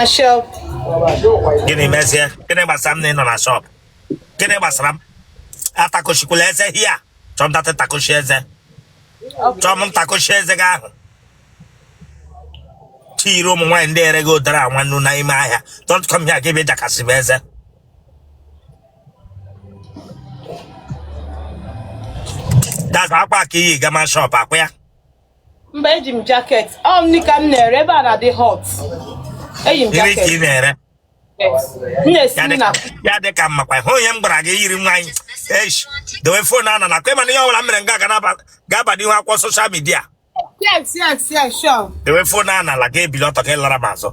na shop gịnị mezie gịnị gbasara m na ị nọ na shop gịnị gbasara m atakochikwula eze here chọọ m data takochi eze chọọ m ntakochi eze gị ahụ chiyiri ụmụ nwaanyị ndị ere gị ụdara nwa nnu n'ime ahịa don't come here gị bịa jakasịba eze that's akwa a ka i yi gama shop akwa ya mba eji m jacket ọ m nika m na-ere ebe a na-adị hot eyi m Gịnị ka ị jacket na-ere m na-esi Ya nri na dịka- ya dị ka mmakwa hụ ihe m gwara gị yiri nwaanyị esh dowe phone a n'ala kwa ị ma na ihe ọbụla m mere nga a ga-aba n'ihu akwụkwọ social media yes yes yes sure dowe phone a n'ala ga-ebili ọtọ gị lara m azụ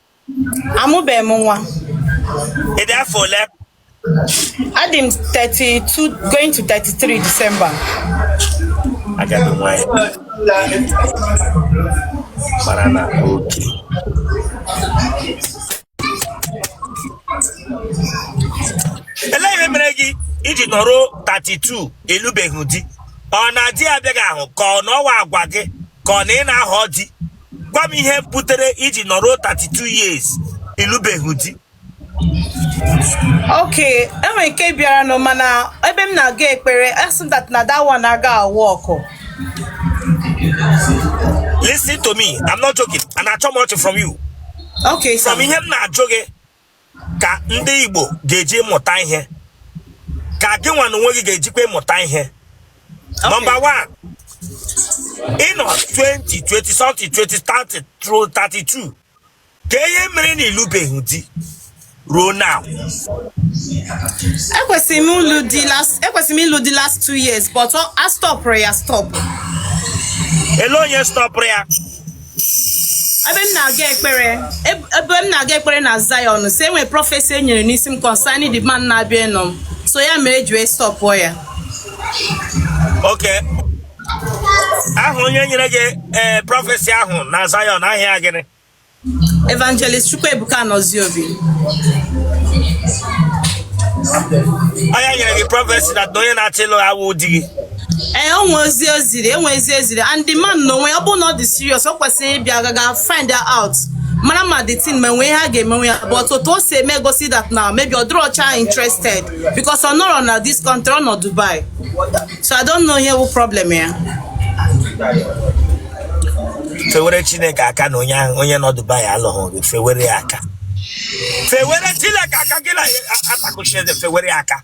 Amụbeghị m nwa. Ị dị afọ ole? Adị m 32 going to 33 Disemba. Agadi nwanyị. Mara na okay. Elee ihe mere gị iji nọrọ 32 ịlụbeghị di? Ọ na di abịaghị ahụ ka ọ na ọ wụ agwa gị ka ọ na ị na-ahọ di? gwa m ihe butere iji nọrọ 32 years ịlụbeghị di ok enwere nke bịaranụ mana ebe m na-aga ekpere a sị that na that one aga work listen to me i'm not joking and achọ m ọchị from you ok sir. from ihe m na-ajụ gị ka ndị Igbo ga-eji mụta ihe ka gị nwa na onwe gị ga-ejikwa ịmụta ihe nọmba 1 ịnọ 20 20 something 20 30 through 32 ka ihe mere na ịlụbeghị di ruo now ekwesịrị m ịlụ di last ekwesịrị m ịlụ di last two years but a stọpụrụ ya stọpụ ele onye stọpụrụ ya ebe m na-aga ekpere eb- ebe m na-aga ekpere na Zion sị e nwee prophecy e nyere n'isi m concerning the man na-abịa ịnụ m so ya mere eji wee stọpụọ ya okay ahụ onye nyere gị ee prophecy ahụ na Zion aha ya gịnị evangelist Chukwuebuka Anozie Obi ọ ya nyere gị prophecy na onye na-achọ ịlụ awụ di gị ee o nwee ozi o ziri e nwee ozi e ziri and the man na onwe ya ọ bụrụ na ọ dị serious ọ kwesịrị ịbịa gaga find out mara ma the thing ma e nwee ihe a ga-emenwe ya but otu o si eme gosi that na maybe ọ dịrọcha interested because ọ nọrọ na this country ọ nọ Dubai so I don't know ihe bụ problem ya fewere chineke aka na onye ahụ onye nọ dubai alụghị gị fewere ya aka fewere chineke aka gị na-atakochi eze fewere ya aka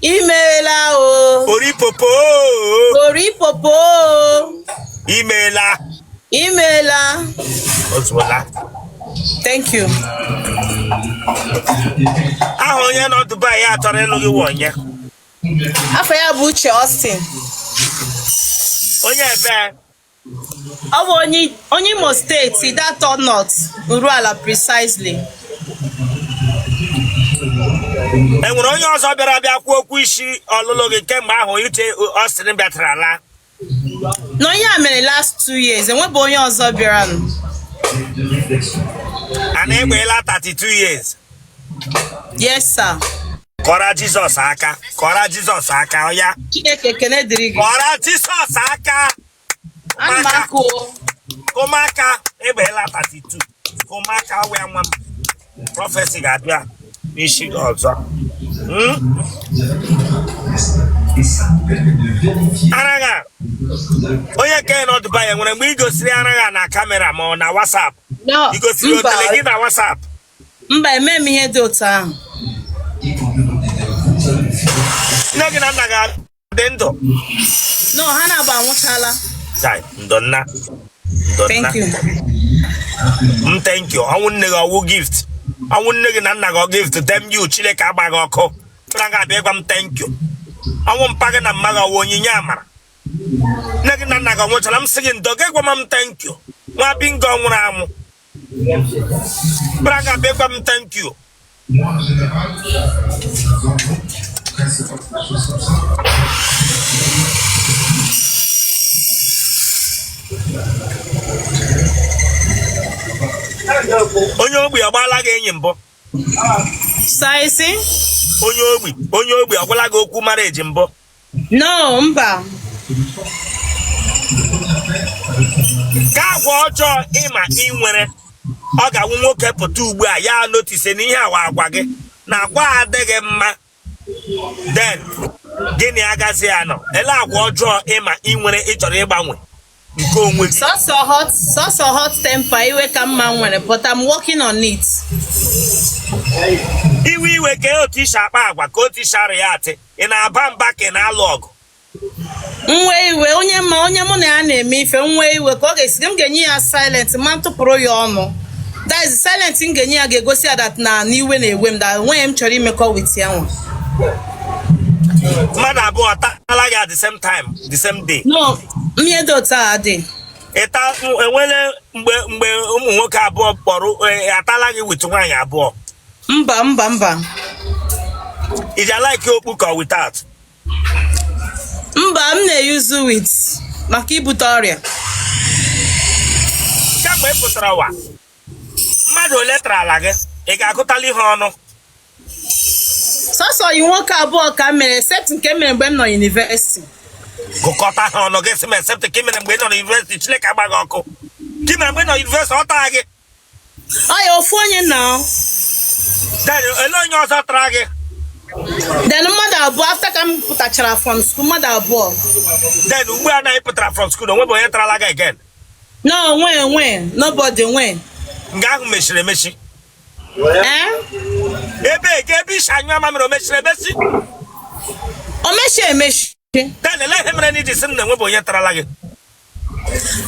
imeela o oripopo oripopo imeela imeela ozuola thank you aha onye nọ Dubai ya chọrọ ịlụ gị wụ onye afa ya bụ Uche Austin onye ebe ọ bụ onye onye Imo State Ideato North Urualla precisely e nwere onye ọzọ bịara bịa kwuo okwu isi ọlụlụ gị kemgbe ahụ Uche Austin bịatara ala no ihe a mere last two years e nwebe onye ọzọ bịara nụ and ị gbaala 32 years yes sir kụọra Jizọs aka kụọra Jizọs aka ọya Chineke ekene dịrị gị kụọra Jizọs aka ana m akụ o kụ maka ị gbaala 32 kụ maka wee nwa m prọfesi ga-abịa n'isi gị ọzọ Hmm? ara gị a onye nke nọ Dubai nwere mgbe i gosiri ara gị a na kamera ma ọ na WhatsApp no i gosiri otele gị na WhatsApp Mba, eme m ihe dị otu ahụ. Nne gị na nna gị adị ndụ? No, ha naabọ anwụchala. Chai, ndo nna. Ndo nna. Thank you. M thank you. Ọnwụ nne gị ọ wụ gift. Ọnwụ nne gị na nna gị ọ gift damn you Chineke agba gị ọkụ. Chọrọ gị abịa ịgwa m thank you. Ọnwụ mpa gị na mma gị ọ wụ onyinye amara. Nne gị na nna gị ọ nwụchala m sị gị ndo gị gwa m thank you. Nwa bingo ọ nwụrụ anwụ. Buru ara gị a bịa gwa m thank you. Onye ogbi agbaala gị enyi mbụ. Sir, ị sị? Onye ogbi onye ogbi agwala gị okwu marriage mbụ. No, mba. Ka agwa ọjọọ ị ma ị nwere ọ ga-awụ nwoke pụta ugbu a ya notise na ihe a wụ agwa gị na agwa adịghị mma then gị na ya agazi anọ elee agwa ọjọọ ị ma ị nwere ị chọrọ ịgbanwe nke onwe gị sọsọ hot sọsọ hot temper iwe ka m ma m nwere but I'm working on it iwe iwe ka otu i si akpa agwa ka otu i si areact ị na-aba mba ka ị na-alụ ọgụ m wee iwe onye ma onye mụ na ya na-eme ife m wee iwe ka ọ ga-esi m ga-enye ya silent ma m tụpụrụ ya ọnụ that is silent m ga-enye ya ga-egosi ya that na iwe na-ewe m that o nweghị ihe m chọrọ imekọ with ya nwa mmadụ abụọ tala gị at the same time the same day no Ihe dị otu a dị. ịta enwere mgbe mgbe ụmụ nwoke abụọ kpọrọ eh, atala gị with nwaanyị abụọ Mba mba mba. i ji a-like okpu ka without Mba m na-eyuzu with maka ibute ọrịa. kemgbe ị pụtara ụwa mmadụ ole tarala gị ị ga-agụtali ha ọnụ sọsọ ọyị nwoke abụọ ka m mere except nke m mere mgbe m nọ university gụkọta ha ọnụ gị sị m except nke ị mere mgbe ị nọ na university chineke agbaghị ọkụ nke ị mere mgbe ị nọ university ọ tara gị ọ ya ofu onye nọ then ele onye ọzọ tara gị then mmadụ abụọ after ka m pụtachara from school mmadụ abụọ then ugbu a na ị pụtara from school o nwebu onye tarala gị again no nwe nwe nobody nwe nga ahụ mechiri emechi ebe ka ebe i si anyụ mamịrị o mechiri emesi o mechi emechi then ele ihe mere na i ji sị m na enwebu onye tarala gị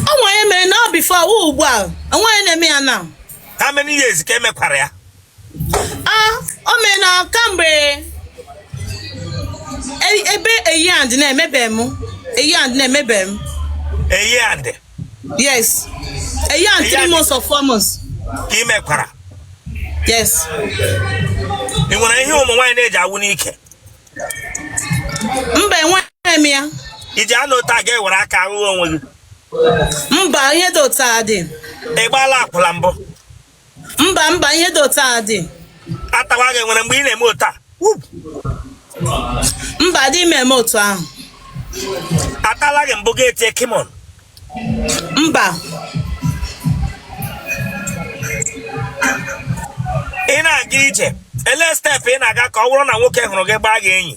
o nwe onye mere na ọ before wụ ugbu a o nwe onye na-eme ya na how many years ka e mekwara ya a o mere na kamgbe e- ebe a year and na emebe m a year and na emebe m a year and yes a year and three months or four months ka ị mekwara yes ị nwere ihe ụmụ nwaanyị na-eji awụ n'ike mba enweghị m ya i ji anọ otu a gị ewere aka ahụhụ onwe gị mba ihe dị otu a dị ị gbaala akwụla mbụ mba mba ihe dị otu a dị atawa gị nwere mgbe ị na-eme otu a Wup! mba adị m eme otu ahụ atala gị mbụ gị etie come on mba ị na-aga ije ele step ị na-aga ka ọ bụrụ na nwoke hụrụ gị gbaa gị enyi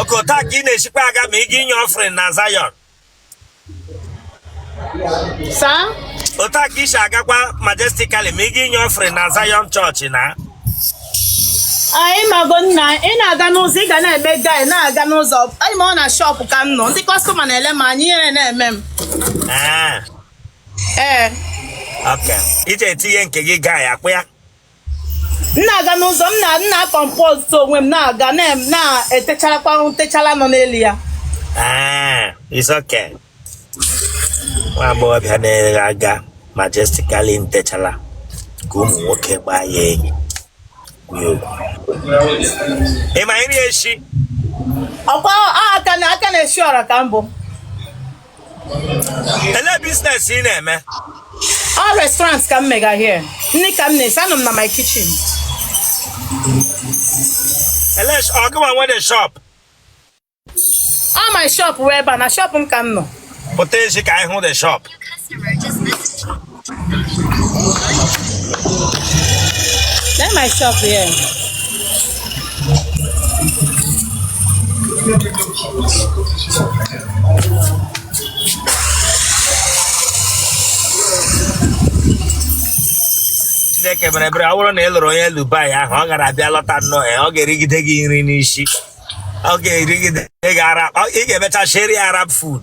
okay otu a ka ị na-esikwa aga ma ị ga inye offering na Zion sir otu a ka i si agakwa majestically ma ị ga inye offering na Zion church na anyị mago na ị na-aga n'ụzọ ị ga na-eme guy na-aga n'ụzọ anyị ma ọ na shop ka m nọ ndị customer na-ele m anya ihere na-eme m ee ee okay i ji etinye nke gị guy akpụ ya m na-aga n'ụzọ m na m na-compose onwe m na-aga na- na-etecharakwa ntechala nọ n'elu ya Ah, it's okay. Nwa agbọghọbịa na-aga majestically ntechala ka ụmụ nwoke gbaa ya enyi. Kwuo okwu. Ị ma nri esi? ọkwa aka na aka na-esi ọra ka mbụ ele business ị na-eme ọ restaurant ka m mega here nri ka m na-esi anọ m na my kitchen ele ọ gụwa nwe the shop ọ my shop wụ ebe a na shop m ka m nọ pụta echi ka anyị hụ the shop Lee my shop here. Chineke mere ebere ọ bụrụ na ị lụrụ onye Dubai ahụ ọ gara abịa lọta nnọọ ya ọ ga-erigide gị nri n'isi ọ ga-erigide gị ara ị ga-emecha sheri Arab food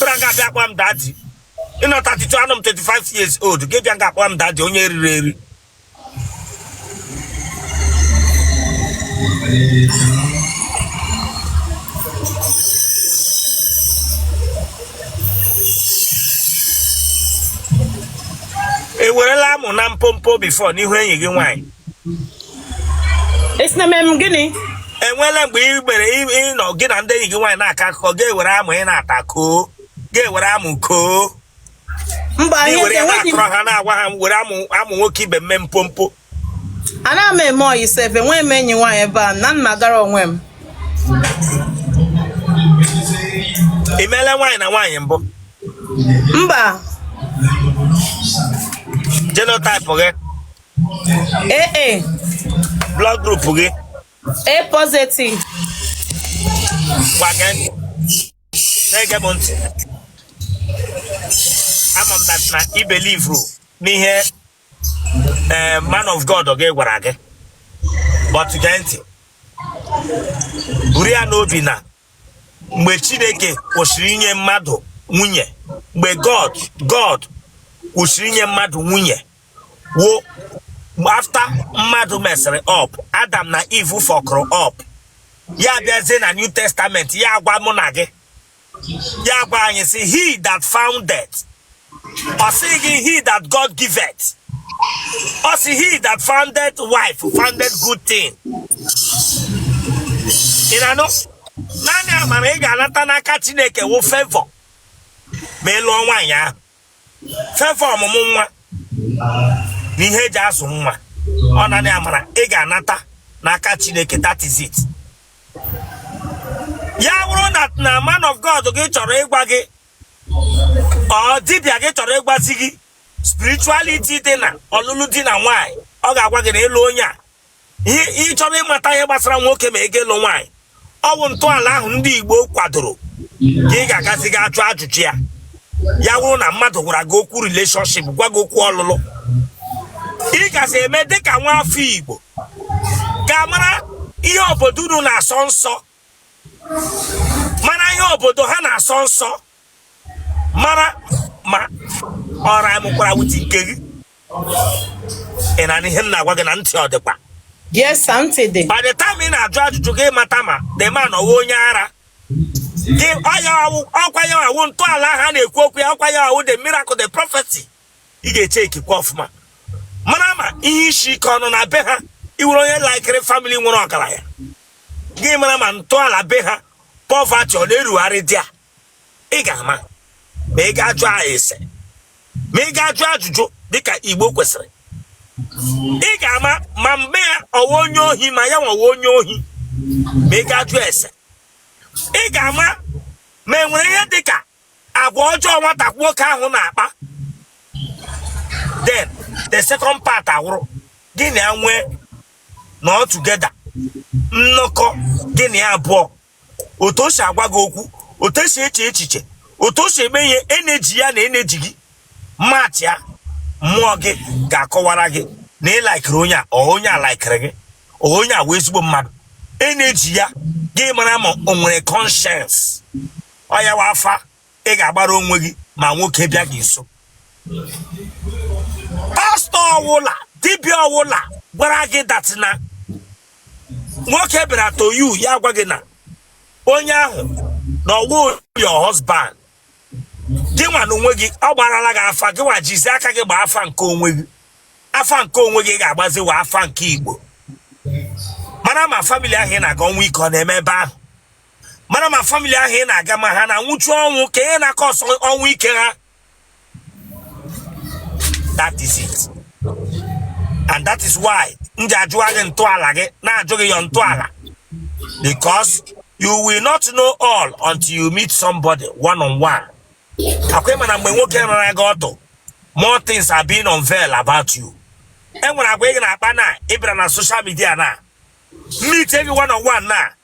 bịa nga abịa akpọ m daddy ị nọ 32 anọ m 25 years old gị bịa nga akpọ m daddy onye eriri eri i werela amụ na mpompo before n'ihu enyi gị nwaanyị ị sị na eme m gịnị enweela mgbe ị gbere ị- ị nọ gị na ndị enyi gị nwaanyị na-akọ akụkọ gị ewere amụ ị na-ata kọọ gị ewere amụ kọọ mba gị ihe were ya enweghị m na-akọrọ ha na-agwa ha were amụ amụ nwoke ibe m mee mpompo anaghị m eme ọyị sef enweghị m enyi nwaanyị ebe a na m nọgara onwe m ị meela nwaanyị na nwaanyị mbụ mba genotype gị AA blood group gị A positive ngwa gee ntị na-ege m ntị ama m na ị believe n'ihe eh, man of God gị gwara gị but gee ntị buru ya n'obi na mgbe Chineke kwụsịrị inye mmadụ nwunye mgbe God God kwụsịrị inye mmadụ nwunye wụ after mmadụ mesịrị up Adam na Eve fọkụrụ up ya bịazie na new testament ya agwa mụ na gị ya gwa anyị sị he that foundeth ọ sịghị he that god giveth ọ sị he that foundeth wife foundeth good thing ị na-anụ naanị amara ị ga-anata n'aka chineke wụ favor ma ị lụọ nwaanyị ahụ favor ọmụmụ nwa na ihe eji azụ nwa ọ nanị amara ị ga-anata n'aka chineke that is it ya bụrụ na na man of god gị chọrọ ịgwa gị or dibịa gị chọrọ ịgwazi gị spirituality dị na ọlụlụ di na nwaanyị ọ ga-agwa gị na ịlụ onye a ị chọrọ ịmata ihe gbasara nwoke ma ị ga-alụ nwaanyị ọwụ ntọala ahụ ndị Igbo kwadoro ka ị ga-agazi ga ajụ ajụjụ ya ya wụrụ na mmadụ gwara gị okwu relationship gwa gị okwu ọlụlụ ị gazi eme dịka nwa afọ Igbo ga-amara ihe obodo unu na-asọ nsọ mara ihe obodo ha na-asọ nsọ mara ma ọ rhymekwara with nke gị ị na-anụ ihe m na-agwa gị na ntị ọ dịkwa yes sir ntị dị by the time ị na-ajụ ajụjụ gị mata ma the man ọwụ onye ara gị ọkwa ya wụ ntọala ha na-ekwu okwu ya ọkwa ya ọwụ the miracle the prophecy ị ga-echeckikwa ọfụma mara ma ihe isi ike ọ nọ na be ha iwere onye laikiri family nwere ọgaranya gị mara ma ntọala be ha poverty ọ na-erugharị there ị ga-ama ma ị ga-ajụ ese ma ị ga-ajụ ajụjụ dịka igbo kwesịrị ị ga-ama ma mgbe ya ọwụ onye ohi ma ya nwa wụ onye ohi ma ị ga-ajụ ese ị ga-ama ma e nwere ihe dịka agwa ọjọọ nwata nwoke ahụ na-akpa then the second part awụrụ gị na ya nwee nọ together nnọkọ gị na ya abụọ otu o si agwa gị okwu otu o si eche echiche otu o si eme ihe energy ya na energy gị matchịa mmụọ gị ga-akọwara gị na ị laikiri onye a ọ onye a laikiri gị ọ onye a wụ ezigbo mmadụ energy ya gị mara ma o nwere conscience ọ ya wụ afa ị ga-agbara onwe gị ma nwoke bịa gị nso pastor ọwụla dibịa ọwụla gwara gị that na nwoke bịara to you ya gwa gị na onye ahụ na ọwụ your husband gị nwa na onwe gị ọ gbarala gị afa gị nwa jizi aka gị gba afa nke onwe gị afa nke onwe gị ga-agbazi wụ afa nke igbo mara ma family ahụ ị na-aga ọnwụ ike ọ na-eme ebe ahụ mara ma family ahụ ị na-aga ma ha na-anwụchu ọnwụ ka ihe na-acause ọnwụ ike ha that is it and that is why m ji ajụ gị ntọala gị na-ajụ gị your ntọala because you will not know all until you meet somebody one on one ọkwa ịma na mgbe nwoke rara gị ọtụ more things are being unveiled about you enwere agwa ị na-akpa na ịbịara na social media na meet everyone on one na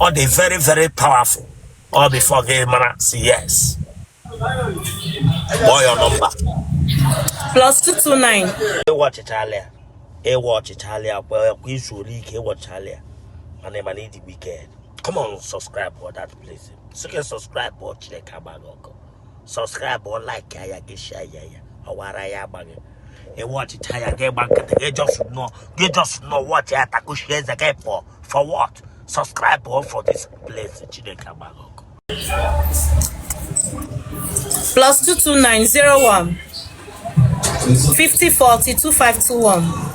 ọ dị very very powerful ọ before gị mara sị yes kpọọ ya number plus 229 ị watchịchala ya ị watchịchala ya kwa kwa izu ole ike ị watchịchala ya mana ịma na ịdị wicked come on subscribe for that place sị gị subscribe or chineke agba gị ọkụ subscribe o like ya gị share ya ọ wụ ara ya agba gị ị watchịcha ya gị gba nkịtị gị just nọ watch ya takuchie eze gị pụọ for what subscribe o for this place chineke agba gị ọkụ plus 22901 5040 2521